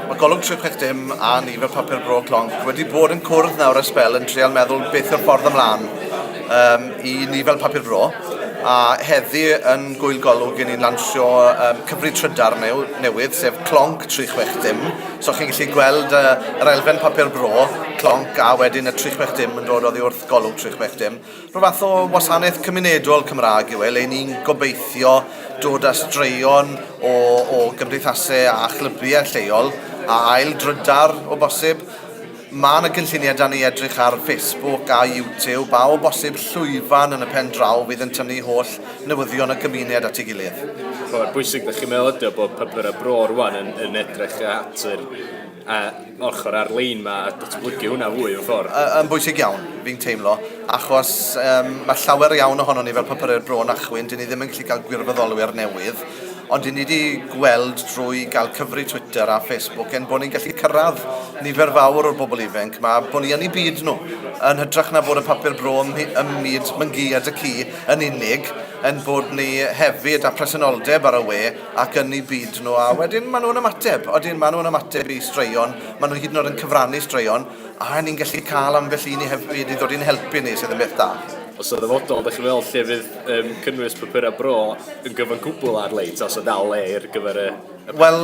Mae golwg trwy peth dim a nifer papur bro clonc wedi bod yn cwrdd nawr a spel yn trial meddwl beth yw'r ffordd ymlaen um, i ni fel papur bro a heddi yn gwyl golwg i ni'n lansio um, cyfri trydar new, newydd, sef Clonc 360. So chi'n gallu gweld uh, yr elfen papur bro, Clonc, a wedyn y 360 yn dod oddi wrth golwg 360. Rhyw fath o wasanaeth cymunedol Cymraeg yw e, le ni'n gobeithio dod â straeon o, o gymdeithasau a chlybiau lleol a ail drydar o bosib. Mae yna gynlluniau da ni edrych ar Facebook a YouTube a o bosib llwyfan yn y pen draw fydd yn tynnu holl newyddion y gymuned at ei gilydd. Mae'n bwysig, da chi'n meddwl ydy o bod papurau bro rwan yn, yn edrych at yr, a, ochr ar-lein 'ma a datblygu hwnna fwy mewn ffordd? Yy yn bwysig iawn, fi'n teimlo, achos yym ma' llawer iawn ohonon ni fel Papurau'r Bro yn achwyn, 'dyn ni ddim yn gallu cael gwirfoddolwyr newydd, ond 'dyn ni 'di gweld drwy gael cyfrif Twitter a Facebook ein bod ni'n gallu cyrraedd nifer fawr o'r bobl ifainc 'ma, bo' ni yn eu byd nhw, yn hytrach na bod y Papur Bro ym mhy- ym myd Mangîd y ci yn unig, ein bod ni hefyd â presenoldeb ar y we, ac yn eu byd nhw, a wedyn maen nhw'n ymateb, odyn maen nhw'n ymateb i straeon, maen nhw hyd yn oed yn cyfrannu straeon, a ni'n gallu cael ambell un i helpu, i ddod i'n helpu ni, sydd yn beth da. Os yn ddyfodol, da chi'n meddwl lle fydd um, cynnwys papurau bro yn gyfan cwbl ar-lein, os yna o le ar gyfer y, y papur? Wel,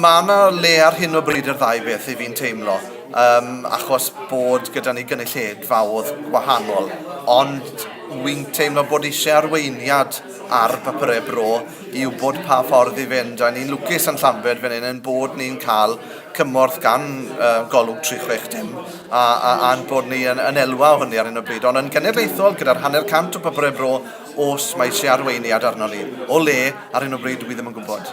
mae yna le ar hyn o bryd i'r ddau beth i fi'n teimlo, um, achos bod gyda ni gynulleidfaodd gwahanol, ond wy'n teimlo bod eisiau arweiniad ar bapurau bro i wybod pa ffordd i fynd a ni'n lwcus yn Llanbed fan hyn yn bod ni'n cael cymorth gan uh, golwg 360 a, a, a'n bod ni yn, yn elwa o hynny ar hyn o bryd ond yn genedlaethol gyda'r hanner cant o bapurau bro os mae eisiau arweiniad arno ni o le ar hyn o bryd dwi ddim yn gwybod.